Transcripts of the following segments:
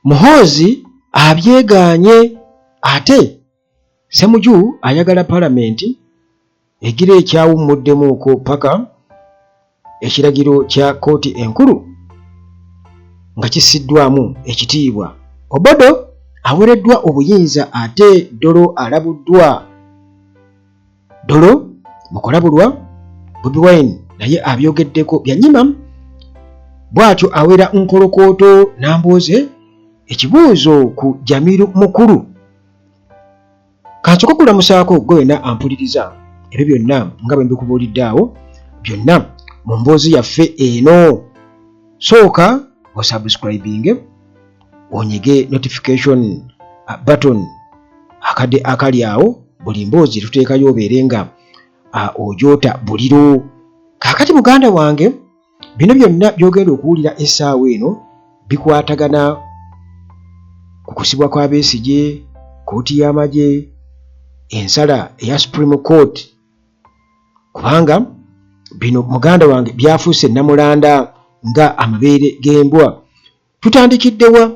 muhoozi abyegaanye ate semuju ayagala palamenti egira ekyawummuddemu-uko paka ekiragiro kya kooti enkulu nga kissiddwamu ekitiibwa obodo awereddwa obuyinza ate dolo alabuddwa dolo mukolabulwa bobi wine naye abyogeddeko byanyima bwatyo awera nkolokooto nambooze ekibuuzo ku jamiru mukulu kansoka kulamusaako gwe wena ampuliriza ebyo byonna nga bwe mbikubuulidde awo byonna mu mboozi yaffe eno sooka osubscribinge onyige notification uh, button akade akali awo buli mboozi tuteekayo obeere nga uh, ojoota buliro kakati muganda wange bino byonna byogenda okuwulira essaawa eno bikwatagana ku kusibwa kwa besigye kooti y'amagye ensala eya supreme court kubanga bino muganda wange byafuuse namulanda nga amabeere g'embwa tutandikidde wa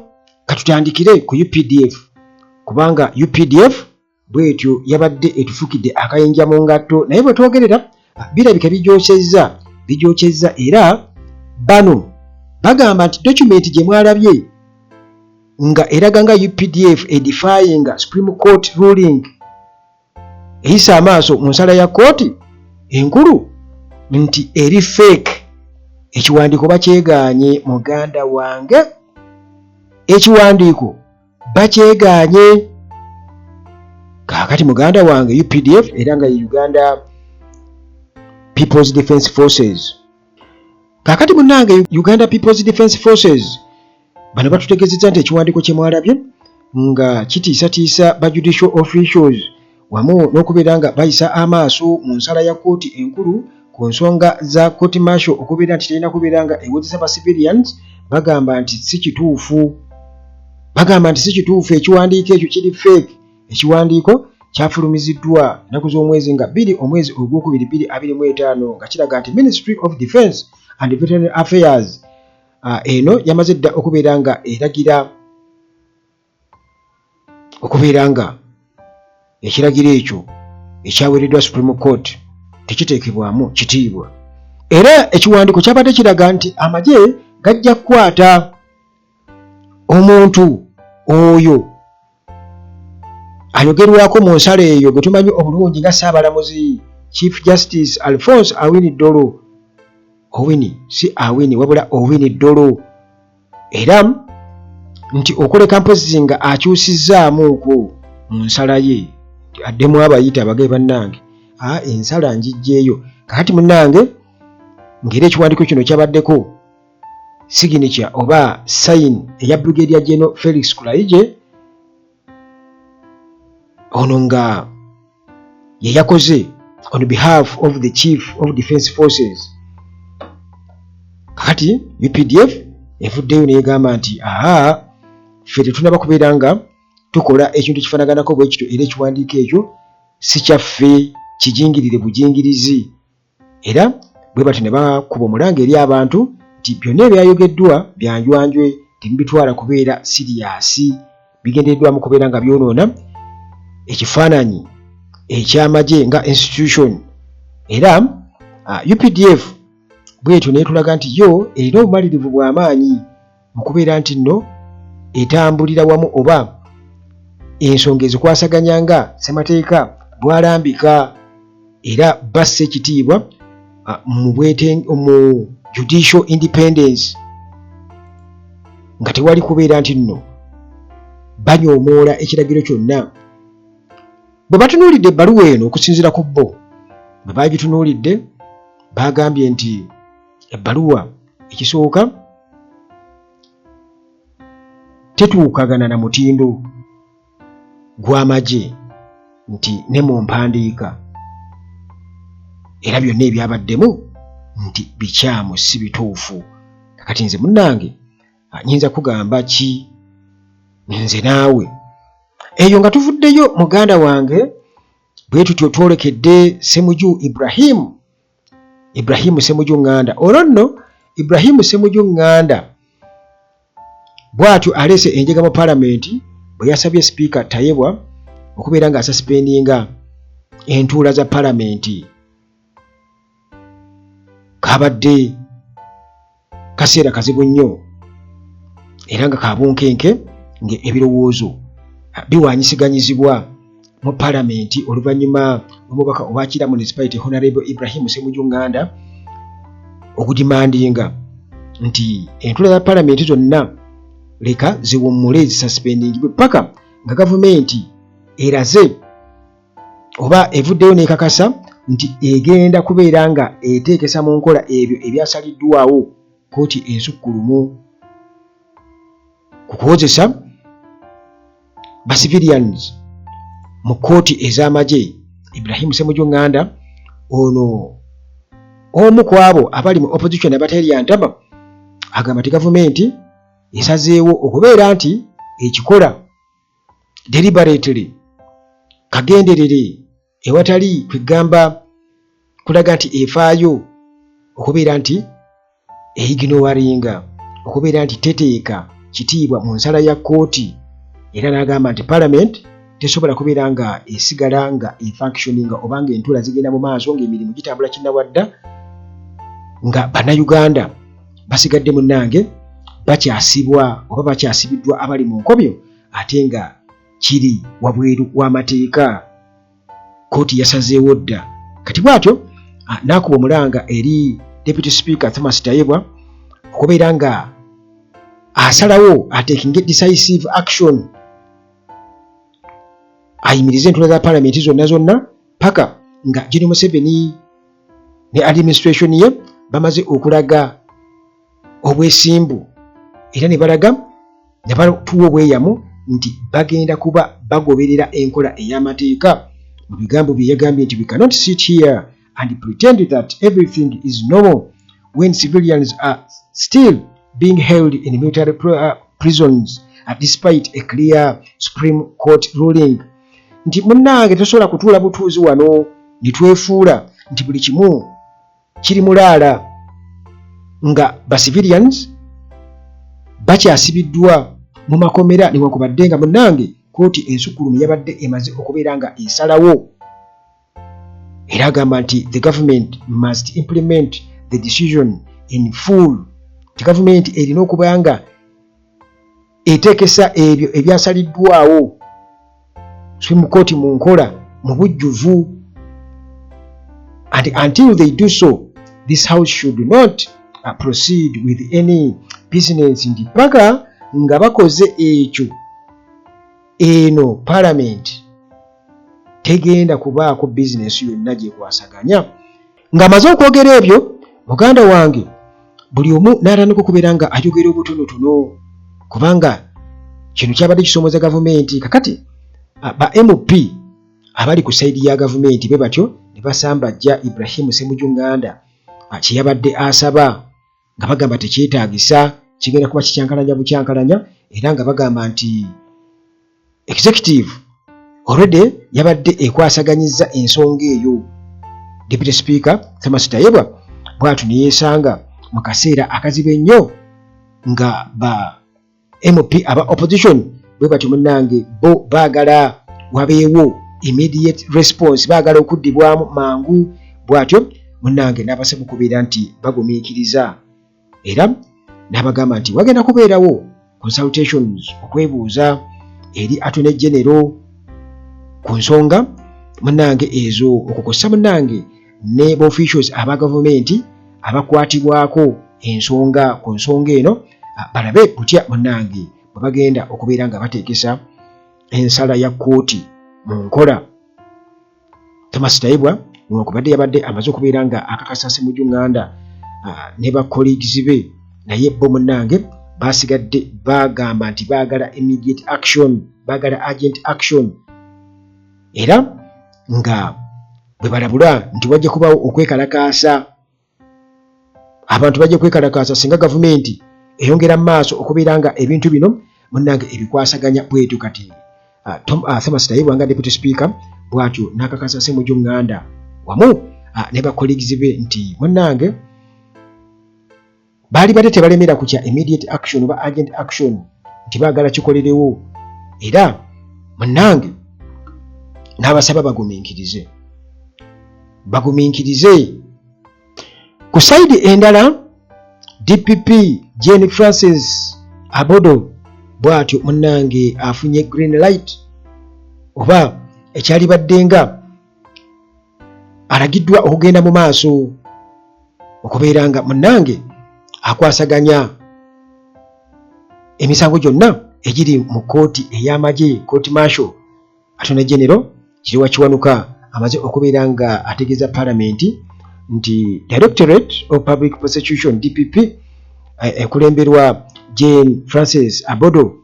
katutandikire ku updf kubanga updf bwetyo yabadde etufukidde akayinja mu ngatto naye bwe twogerera birabika bijokyezza bijokyezza era bano bagamba nti dokumenti gye mwalabye nga eraga nga updf edifyinga supreme court ruling eyisa amaaso mu nsala ya kkooti enkulu nti eri fake ekiwandiiko bakyegaanye muganda wange ekiwandiiko bakyegaanye kaakati muganda wange updf era nga ye uganda peoples defense forces kaakati munange uganda peoples defense forces Bano batutegezeza nti ekiwandiiko kye mwalabye nga kitiisatiisa ba judicial officials wamu n'okubeera nga bayisa amaaso mu nsala ya kkooti enkulu ku nsonga za kkooti marshal okubeera nti terina kubeera nga ewozesa ba civilians bagamba nti si kituufu bagamba nti si kituufu ekiwandiiko ekyo kiri fake ekiwandiiko kyafulumiziddwa ennaku z'omwezi nga bbiri omwezi ogwokubiri bbiri abiri mu etaano nga kiraga nti ministry of defence and veterinary affairs Ah, eno yamaze dda okubeera nga eragira okubeera nga ekiragiro ekyo ekyaweereddwa supreme court tekiteekebwamu kitiibwa era ekiwandiiko kyabadde kiraga nti amagye gajja kukwata omuntu oyo ayogerwako mu nsala eyo gwe tumanyi obulungi nga ssaabalamuzi chief justice alphonse awini dolo owini si awini wabula owini dolo era nti okoleka mpozzi nga akyusizzaamuuko mu nsala ye addemu abayita abagae bannange a ah, ensala njijjeeyo kakati munnange ngeri ekiwandiiko kino kyabaddeko signature oba sign eya brigadier general felix kulaije ono nga yeyakoze on behalf of the chief of defense forces kati updf evuddeyo negamba nti aa ffe tetunaba kubeera nga tukola ekintu ekifanaganako bwekityo era ekiwandiiko ekyo sikyaffe kijingirire bujingirizi era bwe batyo ne bakuba omulanga eri abantu nti byonna ebyayogeddwa byanjwanjwe temubitwala kubeera siriyaasi bigendereddwamu kubeera nga byonoona ekifaananyi eky'amagye nga institution era uh, updf bwetyo netulaga nti yo erina obumalirivu bw'amaanyi mu kubeera nti nno etambulira wamu oba ensonga ezikwasaganya nga ssemateeka bwalambika era bassa ekitiibwa mu judicial independence nga tewali kubeera nti nno banyoomoola ekiragiro kyonna bwe batunuulidde ebbaluwa eno okusinziira ku bo bwe baagitunuulidde baagambye nti ebbaluwa ekisooka tetuukagana na mutindo gw'amagye nti ne mu mpandiika era byonna ebyabaddemu nti bikyamu si bituufu kakati nze munnange nyinza kugamba ki nze naawe eyo nga tuvuddeyo muganda wange bwe tutyo twolekedde semuju ibrahimu Ibrahimu Semuju Nganda olwo nno Ibrahimu Semuju Nganda bwatyo aleese enjega mu palamenti bwe yasabye sipiika Tayebwa okubeera nga asasipendinga entuula za palamenti kabadde kaseera kazibu nnyo era nga kabunkenke ngaebirowoozo biwanyisiganyizibwa mu palamenti oluvannyuma omubaka owakira municipality honarable ibrahim semuju nganda okudimandinga nti entula za palamenti zonna leka ziwummule zisasipendingibwe paka nga gavumenti eraze oba evuddeyo n'ekakasa nti egenda kubeera nga eteekesa mu nkola ebyo ebyasaliddwawo kkooti ensukkulumu ku kuwozesa bacivilians mu kkooti ez'amagye ibrahimu semuju nganda ono omu ku abo abali mu opposition abateryantama agamba nti gavumenti esazeewo okubeera nti ekikola deliberately kagenderere ewatali kwegamba kulaga nti efaayo okubeera nti eyiginowaringa okubeera nti teteeka kitiibwa mu nsala ya kkooti era n'agamba nti parliament tesobola kubeera nga esigala nga efunctioninga oba nga entula zigenda mu maaso ng'emirimu gitambula kinnawadda nga bannayuganda basigadde munnange bakyasibwa oba bakyasibiddwa abali mu nkobyo ate nga kiri wabweru w'amateeka kkooti yasazeewo dda kati bwatyo ah, n'akuba omulanga eri deputy speaker thomas tayebwa okubeera nga asalawo atekinge decisive action ayimirize entula za palamenti zonna zonna paka nga jeni museveni ne administration ye bamaze okulaga obwesimbu era ne balaga ne batuwa obweyamu nti bagenda kuba bagoberera enkola ey'amateeka mu bigambo bye yagambye nti we cannot sit here and pretend that everything is normal when civilians are still being held in military uh, prisons uh, despite a clear supreme court ruling nti munnange tosobola kutuula butuuzi wano ne twefuula nti buli kimu kiri mulaala nga ba civilians bakyasibiddwa mu makomera newankubadde nga munnange kkooti ensukkulumu yabadde emaze okubeera nga esalawo era agamba nti the government must implement the decision in full nti gavumenti erina okuba nga eteekesa ebyo ebyasaliddwawo supreme court mu nkola mu bujjuvu and until they do so this house should not uh, proceed with any business nti paka nga bakoze ekyo eno palamenti tegenda kubaako bizinesi yonna gyekwasaganya ng'amaze okwogera ebyo muganda wange buli omu n'atandika okubeera nga ayogera obutonotono kubanga kino kyabadde kisoomoza gavumenti kakati ba mp abali ku sayidi ya gavumenti be batyo ne basambajja ibrahimu semujunganda kyeyabadde asaba nga bagamba tekyetaagisa kigenda kuba kikyankalanya bukyankalanya era nga bagamba nti executive already yabadde ekwasaganyizza ensonga eyo deputy speaker thomas tayebwa bwatu neyeesanga mu kaseera akazibu ennyo nga ba MP aba opposition bwe batyo munnange, bo baagala wabeewo immediate response, baagala okuddibwamu mangu bw'atyo munnange n'abasaba okubeera nti bagumiikiriza era n'abagamba nti wagenda kubeerawo consultations okwebuuza eri atone genero ku nsonga munnange ezo okukosa munnange ne ba officials aba gavumenti abakwatibwako ensonga ku nsonga eno ah, balabe butya munange bwe bagenda okubeera nga bateekesa ensala ya kkooti mu nkola thomas taibwa nokubadde yabadde amaze okubeera nga akakasa simuju nganda ah, ne ba colleagues be naye bo munange basigadde bagamba nti bagala immediate action bagala agent action era nga bwe balabula nti wajja kubaawo okwekalakaasa abantu bajja kwekalakaasa singa gavumenti eyongera mu maaso okubeera nga ebintu bino munnange ebikwasaganya bwetyo kati ah, tom ah, thomas tayebwa nga deputy speaker bwatyo n'akakasa semuju nganda wamu ah, ne bakolegizi be nti munnange baalibadde tebalemera ku kya immediate action oba agent action nti baagala kikolerewo era munnange n'abasaba bagumiikirize bagumiikirize ku sayidi endala dpp jane francis abodo bw'atyo munnange afunye green light oba ekyalibaddenga alagiddwa okugenda mu maaso okubeera nga munnange akwasaganya emisango gyonna egiri mu kkooti ey'amagye kkooti marsho atone genero kiriwa kiwanuka amaze okubeera nga ategeeza palamenti nti directorate of public prosecution dpp eh, ekulemberwa jane francis abodo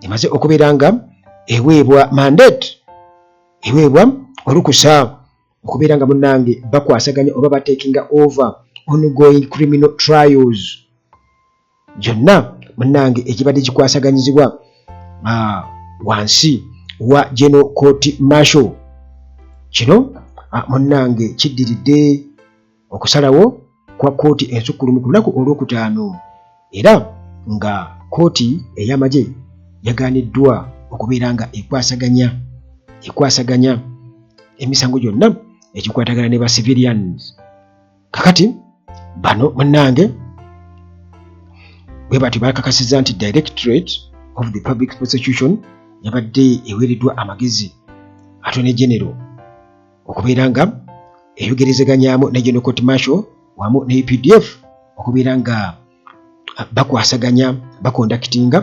emaze okubeera nga eweebwa mandate eweebwa olukusa okubeera nga munnange bakwasaganya oba batekinga over ongoing criminal trials gyonna munnange egibadde gikwasaganyizibwa ah, wansi wa geno court marshal kino ah, munnange kiddiridde Okusalawo kwa kkooti ensukkulumu ku lunaku olwokutaano era nga kkooti ey'amagye yagaaniddwa okubeera nga ekwasaganya ekwasaganya emisango gyonna egikwatagana ne ba civilians kakati bano munnange bwe batyo bakakasiza nti directorate of the public prosecution yabadde eweereddwa amagezi atone genero okubeera nga eyogerezeganyaamu ne General Court Martial wamu ne UPDF okubeera nga bakwasaganya bakondakitinga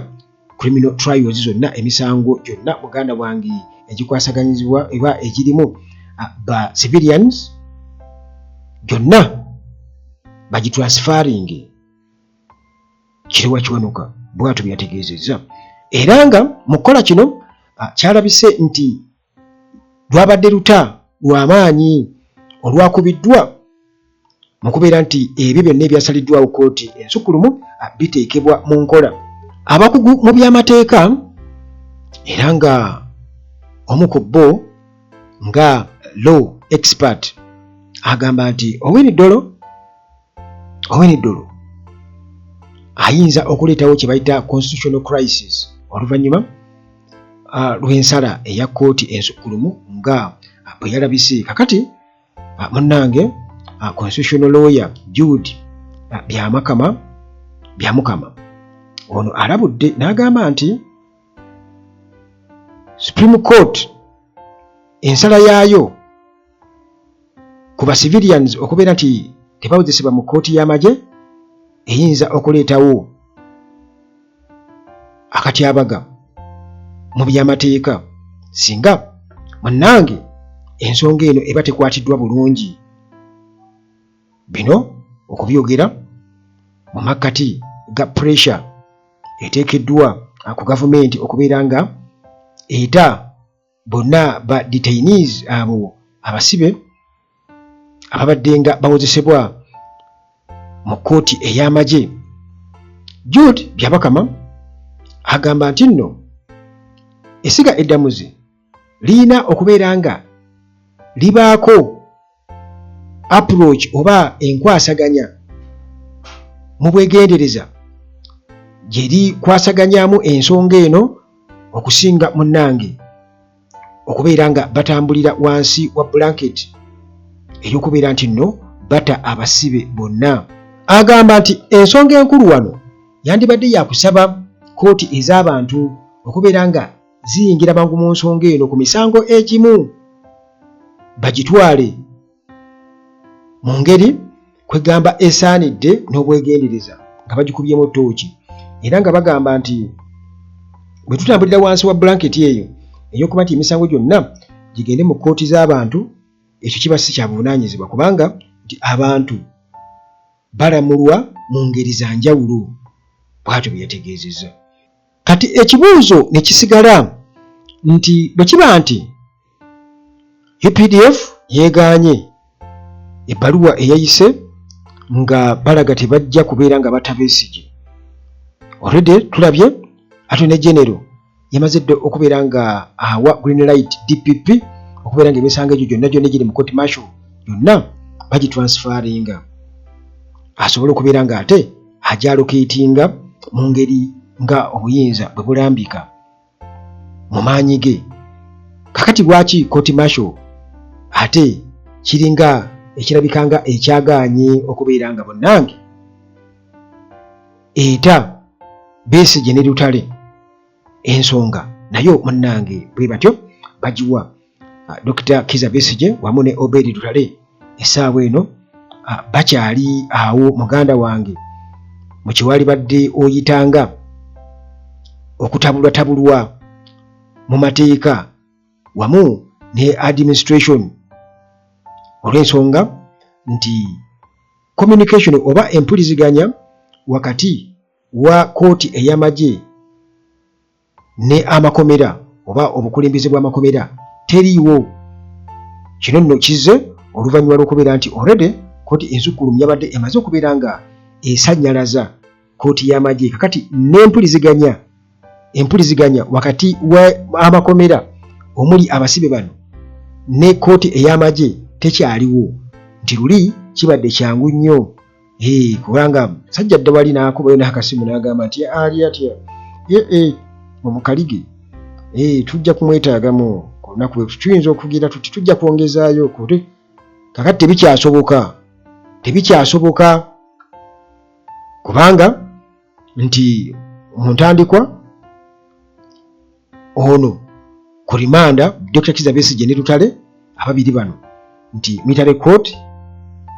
criminal trials zonna emisango gyonna muganda wange egikwasaganyizibwa eba egirimu ba civilians gyonna bagitransfaringe kiriwa kiwanuka bwatu byategeezezza era nga mu kukola kino kyalabise nti lwabadde luta lwa maanyi olwakubiddwa mu kubeera nti ebyo byonna ebyasaliddwawo kkooti ensukkulumu biteekebwa mu nkola. Abakugu mu by'amateeka era nga omu ku bo nga law expert agamba nti Owiny Dollo owene ddulu ayinza okuleetawo kye bayita constitutional crisis oluvannyuma uh, lw'ensala eya kkooti ensukkulumu nga bwe yalabise kakati uh, munnange uh, constitutional lawyer jude uh, byamakama byamukama ono alabudde n'agamba nti supreme court ensala yaayo ku ba civilians okubeera nti tebawozesebwa mu kkooti y'amagye eyinza okuleetawo akatyabaga mu byamateeka singa munnange ensonga eno eba tekwatiddwa bulungi bino okubyogera mu makkati ga pressure eteekeddwa ku gavumenti okubeera nga eta bonna ba detainees abo abasibe ababadde nga bawozesebwa mu kkooti ey'amagye Jude Byabakama agamba nti nno essiga eddamuzi lirina okubeera nga libaako approach oba enkwasaganya mu bwegendereza gyeri kwasaganyamu ensonga eno okusinga munnange okubeera nga batambulira wansi wa blanket ey'okubeera nti nno bata abasibe bonna agamba nti ensonga enkulu wano yandibadde yakusaba kkooti ez'abantu okubeera nga ziyingira mangu mu nsonga eno ku misango egimu bagitwale mu ngeri kwegamba esaanidde n'obwegendereza nga bagikubyemu tooki era nga bagamba nti bwe tutambulira wansi wa bulanketi eyo ey'okuba nti emisango gyonna gigende mu kkooti z'abantu ekyo kiba si kya buvunaanyizibwa kubanga nti abantu balamulwa mu ngeri za njawulo bwatyo bwe yategeezezza kati ekibuuzo ne kisigala nti bwe kiba nti updf yeegaanye ebbaluwa eyayise nga balaga tebajja kubeera nga batta besigye olwedde tulabye atone genero yamaze dde okubeera nga awa green light dpp okubeera nga emisango egyo gyonna gyonna egiri mu court marshal yonna bagitransferinga asobole okubeera nga ate ajalokeetinga mu ngeri nga obuyinza bwe bulambika mu maanyi ge kakati lwaki koti masho ate kiringa ekirabika nga ekyagaanye okubeera nga bonnange eta beesi gye ne lutale ensonga nayo munnange bwe batyo bagiwa ah, Dr. Kiza Besigye wamu ne Obedi Lutale essaawa eno ah, bakyali awo muganda wange mu kyewalibadde oyitanga okutabulwatabulwa mu mateeka wamu ne administration olw'ensonga nti communication oba empuliziganya wakati wa kooti ey'amagye ne amakomera oba obukulembeze bw'amakomera teriiwo. Kino nno kizze oluvannyuma lw'okubeera nti already kkooti ensukkulumu yabadde emaze okubeera nga esannyalaza kkooti y'amagye kakati n'empuliziganya empuliziganya wakati w'amakomera omuli abasibe bano ne kkooti ey'amagye tekyaliwo nti luli kibadde kyangu nnyo Hey, kubanga sajja dda wali nakubayo nakasimu nagamba nti ali atya eh, eh, omukalige hey, eh, tujja kumwetagamu kulunaku tuyinza okugira tuti tujja kwongezaayo kuli kakati tebikyasoboka tebikyasoboka kubanga nti muntandikwa ono ku rimanda dr kiza besigye ne lutale ababiri bano nti military court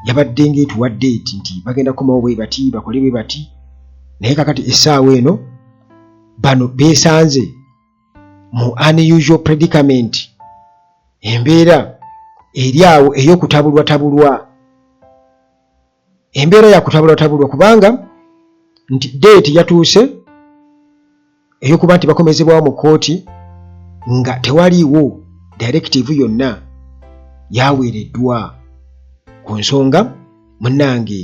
yabadde ngaetuwadde eti nti bagenda kukomawo bwe bati bakole bwe bati naye kakati essaawa eno bano beesanze mu unusual predicament embeera eri awo ey'okutabulwatabulwa embeera yakutabulwatabulwa kubanga nti deeti yatuuse eyokuba nti bakomezebwawo mu kkooti nga tewaliiwo direkitivu yonna yaweereddwa ku nsonga munange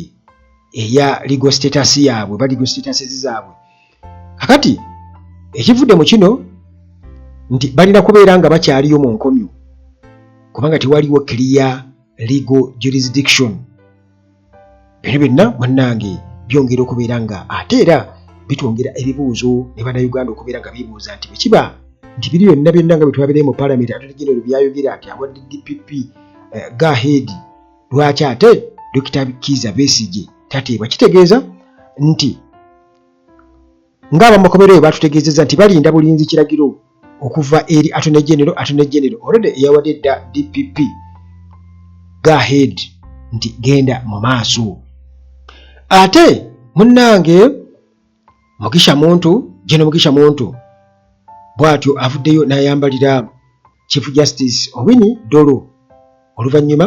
eya legal status yaabwe ba legal status zaabwe kakati ekivudde mu kino nti balina kubeera nga bakyaliyo mu nkomyo kubanga tewaliwo kiriya legal jurisdiction bino byonna bannange byongera okubeera nga ate era bitwongera ebibuuzo ne bannayuganda okubeera nga bibuuza nti bwekiba nti biri byonna byonna nga byetwabirayo mu palamenti atetegera ebyo byayogera nti awadde dpp eh, gaheedi lwaki ate dokita kiiza besigye tateebwa kitegeeza nti Ng'abamakomera oyo batutegeezezza nti balinda bulinzi kiragiro okuva eri Attorney General, Attorney General already eyawadde dda DPP go ahead nti genda mu maaso. Ate munnange Mugisha Muntu, General Mugisha Muntu bw'atyo avuddeyo n'ayambalira Chief Justice Owini Dolo oluvannyuma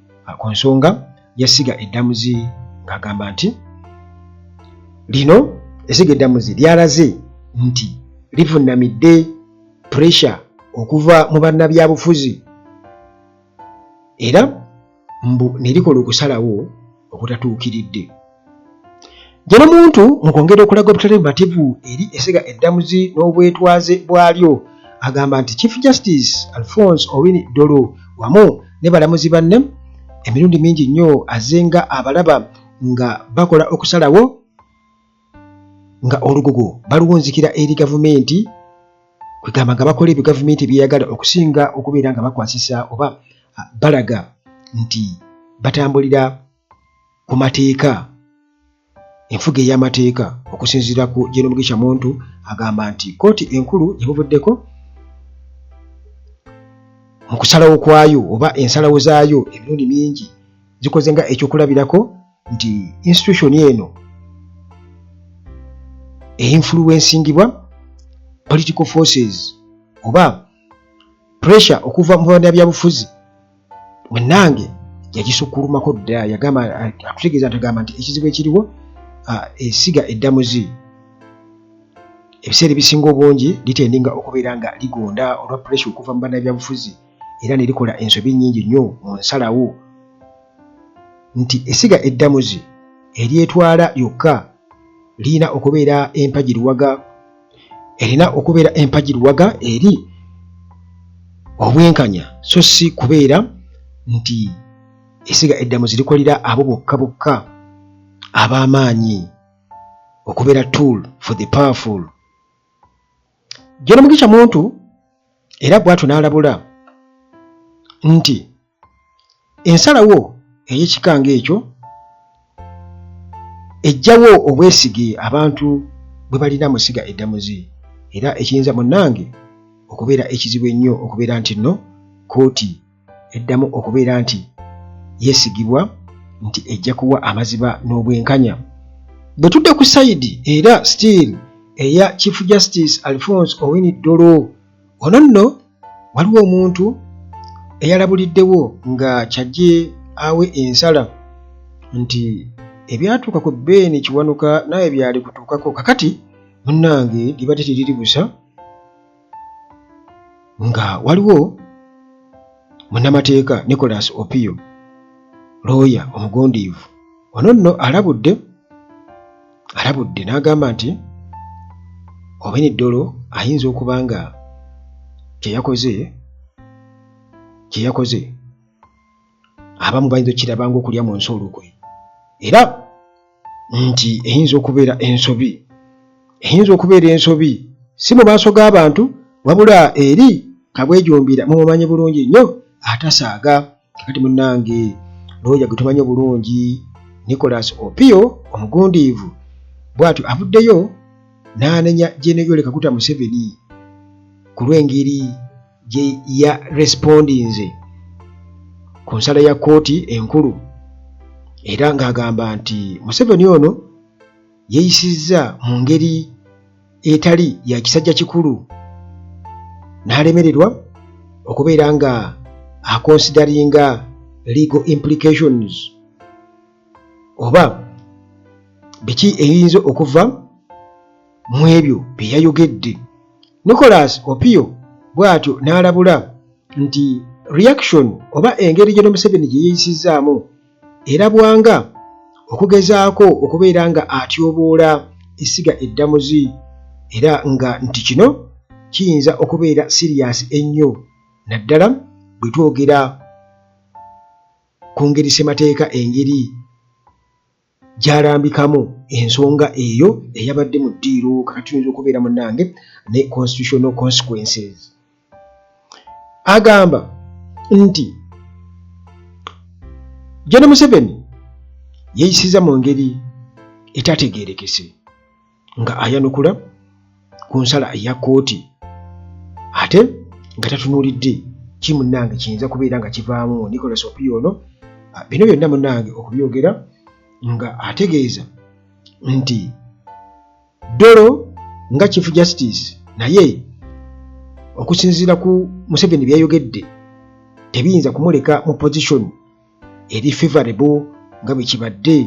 ah, ku nsonga yasiga eddamuzi ng'agamba nti lino esiga eddamuzi lyalaze nti livunnamidde puresha okuva mu bannabyabufuzi era mbu ne likola okusalawo okutatuukiridde Gye n'omuntu mu kwongera okulaga obutali bumativu eri essega eddamuzi n'obwetwaze bwalyo, agamba nti Chief Justice Alfonse Owiny Dollo wamu ne balamuzi banne emirundi mingi nnyo azze nga abalaba nga bakola okusalawo nga olugogo baluwunzikira eri gavumenti kwegamba nga bakola ebyo gavumenti byeyagala okusinga okubeera nga bakwasisa oba balaga nti batambulira ku mateeka enfuga ey'amateeka okusinziira ku gyenomugisha muntu agamba nti kkooti enkulu gyebuvuddeko mu kusalawo kwayo oba ensalawo zaayo emirundi mingi zikoze nga ekyokulabirako nti institution eno einfluensingibwa political forces oba pressure okuva mu bana byabufuzi munange yagisukkulumako dda yagamba atutegeeza ntagamba nti ekizibu ekiriwo esiga eddamuzi ebiseera ebisinga obungi litendinga okubeera nga ligonda olwa puresha okuva mu bannabyabufuzi era ne likola ensobi nnyingi nnyo mu nsalawo nti esiga eddamuzi eryetwala lyokka lirina okubeera empagiruwaga erina okubeera empagi luwaga eri obwenkanya so si kubeera nti esiga eddamu zirikolera abo bokka bokka ab'amaanyi okubeera tool for the powerful jeno mugisha muntu era bwatyo n'alabula nti ensalawo ey'ekika ng'ekyo ejjawo obwesige abantu bwe balina mu ssiga eddamuzi era ekiyinza munnange okubeera ekizibu ennyo okubeera nti nno kkooti eddamu okubeera nti yeesigibwa nti ejja kuwa amaziba n'obwenkanya. Bwe tudde ku sayidi era still eya Chief Justice Alfonse Owiny Dollo, Wano nno waliwo omuntu eyalabuliddewo nga kyajje awe ensala nti ebyatuuka ku Ben Kiwanuka naawe byalikutuukako kakati munnange libadde teriri busa nga waliwo munnamateeka Nicholas Opio looya omugundiivu ono nno alabudde alabudde n'agamba nti Obeni Ddolo ayinza okuba nga kye yakoze kye yakoze abamu bayinza okukiraba ng'okulya mu nsi olukwe era nti eyinza okubeera ensobi eyinza okubeera ensobi si mu maaso g'abantu wabula eri kabwejumbira mumumanyi bulungi nnyo atasaaga kakati munange looya gwe tumanyi obulungi nicolas opio omugundiivu bwatyo avuddeyo n'anenya jeneyole kaguta museveni ku lw'engeri gye ya respondinze ku nsala ya kkooti enkulu era ng'agamba nti museveni ono yeeyisizza mu ngeri etali ya kisajja kikulu n'alemererwa okubeera nga akonsidaringa legal implications oba biki ebiyinza okuva mu ebyo bye yayogedde nicolas opio bw'atyo n'alabula nti reaction oba engeri gye nomuseveni gye yeeyisizzaamu erabwanga okugezaako okubeera nga atyoboola essiga eddamuzi era nga nti kino kiyinza okubeera siriyaasi ennyo naddala bwe twogera ku ngeri ssemateeka engeri gyalambikamu ensonga eyo eyabadde mu ddiiro kakati oyinza okubeera munange ne constitutional consequences agamba nti Gen Museveni yeyisiza mu ngeri etategeerekese nga ayanukula ku nsala eya kkooti ate nga tatunuulidde ki munnange kiyinza kubeera nga kivaamu Nicholas Opiyo ono ah, bino byonna munnange okubyogera nga ategeeza nti Dolo nga Chief Justice naye okusinziira ku Museveni byeyayogedde tebiyinza kumuleka mu position eri favorable nga bwe kibadde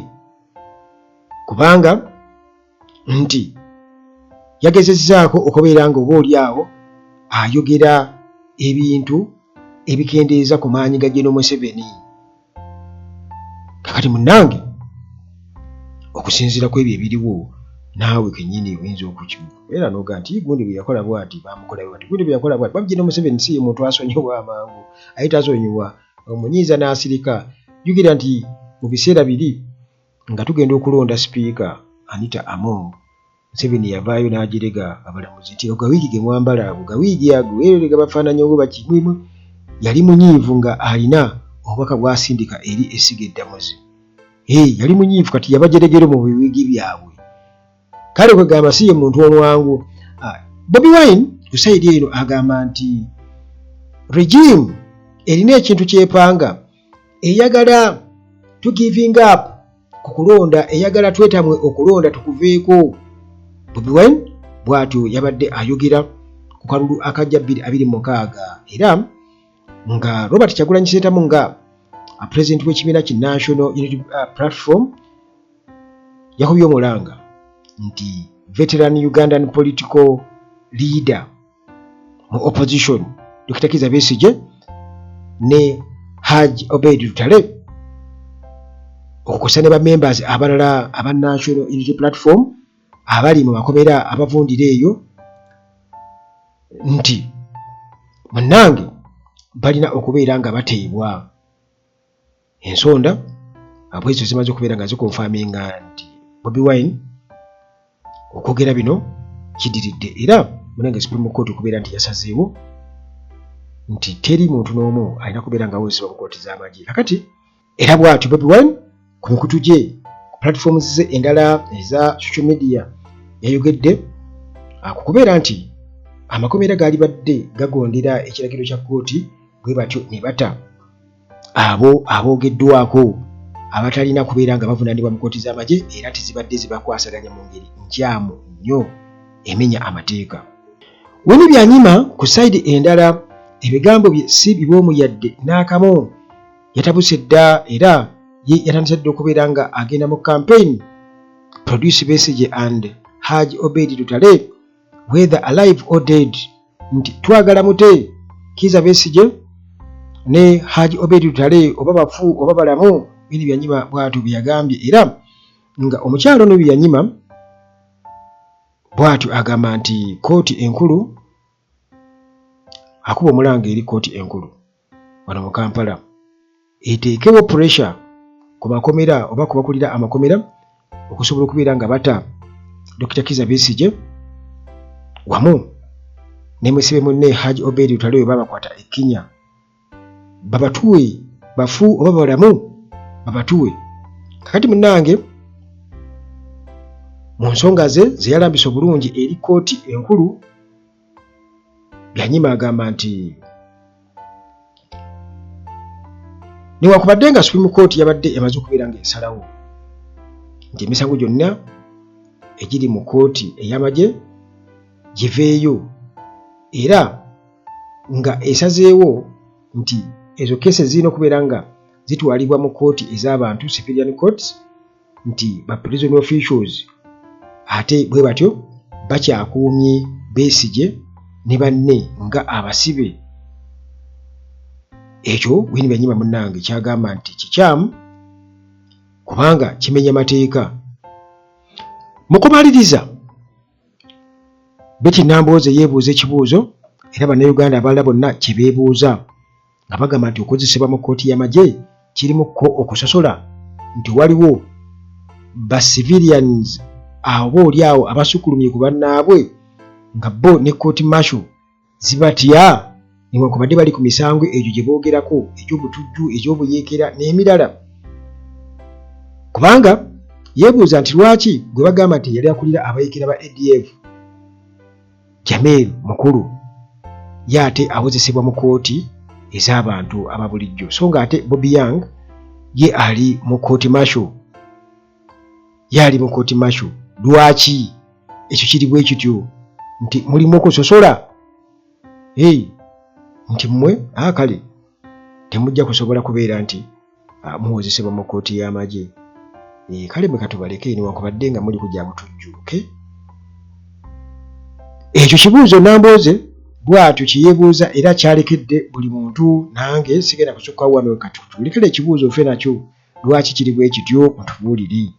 kubanga nti yagezezzaako okubeera nga oba oli awo ayogera ebintu ebikendeeza ku maanyi ga General Museveni kakati munange okusinziira ku ebyo ebiriwo naawe kenyini oyinza okukimu era noga nti gundi bwe yakola bwati bamukola bwati gundi bwe yakola bwati babjina omuseveni si ye muntu asonyiwa amangu aye tasonyiwa omunyiiza n'asirika jukira nti mu biseera biri nga tugenda okulonda sipiika anita among Museveni yavaayo n'ajerega abalamuzi nti ago gawiigi ge mwambala ago gawiigi ago erere gabafaananya oba baki mulimu yali munyiivu nga alina obubaka bw'asindika eri essiga eddamuzi ee yali munyiivu kati yabajeregero mu biwiigi byabwe kale kwegamba si ye muntu omwangu ah, Bobi Wine ku sayidi eno agamba nti regime erina ekintu kyepanga eyagala to giving up ku kulonda eyagala twetamwe okulonda tukuveeko bobi wine bwatyo yabadde ayogera ku kalulu akajja bbiri abiri mukaaga era nga robert kyagulanyi seetamu nga pulezidenti w'ekibiina ki national unity uh, platform yakubye omulanga nti veteran ugandan political leader mu opposition Dr. Kiza Besigye ne Haj Obed Lutale okukosa ne ba members abalala aba National Unity Platform abali mu makomera abavundira eyo nti munange balina okubeera nga bateebwa ensonda abwezo zimaze okubeera nga zikonfaminga nti Bobi Wine okwogera bino kidiridde era munange Supreme Court okubeera nti yasazeewo nti teri muntu n'omu alina kubeera nga awozesebwa mu kooti z'amagye kakati era bw'atyo Bobi Wine ku mikutu gye ku platforms ze endala eza social media yayogedde ku kubeera nti amakomera gaalibadde gagondera ekiragiro kya kooti bwe batyo ne bata abo aboogeddwako abatalina kubeera nga bavunaanibwa mu kkooti z'amagye era nti zibadde zibakwasaganya mu ngeri nkyamu nnyo emenya amateeka. Winnie Byanyima ku sayidi endala ebigambo bye si biboomu yadde n'akamu yatabuse dda era ye yatandise dda okubeera nga agenda mu kampeyini Produce Besigye and Haj Obedi Lutale whether alive or dead nti twagala mute kiza besije ne haji obedi lutale oba bafu oba balamu bini byanyima bwatu byagambye era nga omukyalo ono byanyima bwatu agamba nti kooti enkulu akuba omulanga eri kooti enkulu wano mu Kampala eteekewo pressure ku makomera oba ku bakulira amakomera okusobola okubeera nga bata Dokita Kiza Besigye wamu ne musibe munne Haji Obed Lutale we babakwata e Kenya babatuwe bafu oba balamu babatuwe kakati munnange mu nsonga ze zeyalambisa obulungi eri kkooti enkulu byanyima agamba nti newakubadde nga supreme court yabadde emaze okubeera nga esalawo nti emisango gyonna egiri mu kooti ey'amagye giveeyo era nga esazeewo nti ezo keese zirina okubeera nga zitwalibwa mu kooti ez'abantu civilian courts nti ba prison officials ate bwe batyo bakyakuumye besigye ne banne nga abasibe ekyo wini benyima munange kyagamba nti kikyamu kubanga kimenya mateeka mukumaliriza beti nambooze yeebuuza ekibuuzo era bannayuganda abalala bonna kyebeebuuza nga bagamba nti okukozesebwa mu kkooti y'amagye kirimu ko okusosola nti waliwo ba civilians aba oli awo abasukulumye ku bannaabwe nga bo ne kkooti marshal zibatya newankubadde bali ku misango egyo gye boogerako egy'obutujju egy'obuyeekera n'emirala kubanga yeebuuza nti lwaki gwe bagamba nti yali akulira abayekera ba adf Jamil mukulu ye ate awozesebwa mu kkooti ez'abantu aba bulijjo so ng'ate Bobi Young ye ali mu kkooti masho ye ali mu kkooti masho lwaki ekyo kiri bwe kityo nti mulimu okusosola nti mmwe akale ah, temujja kusobola kubeera nti ah, muwozesebwa mu kkooti y'amagye eh, kale mwe katubaleke newankubadde nga muli kugya butujjuuke ekyo kibuuzo nambooze bwatyo kyeyebuuza era kyalekedde buli muntu nange sigenda kusukka wano katutulekera ekibuuzo ofe nakyo lwaki kiri bwe kityo mutubuulire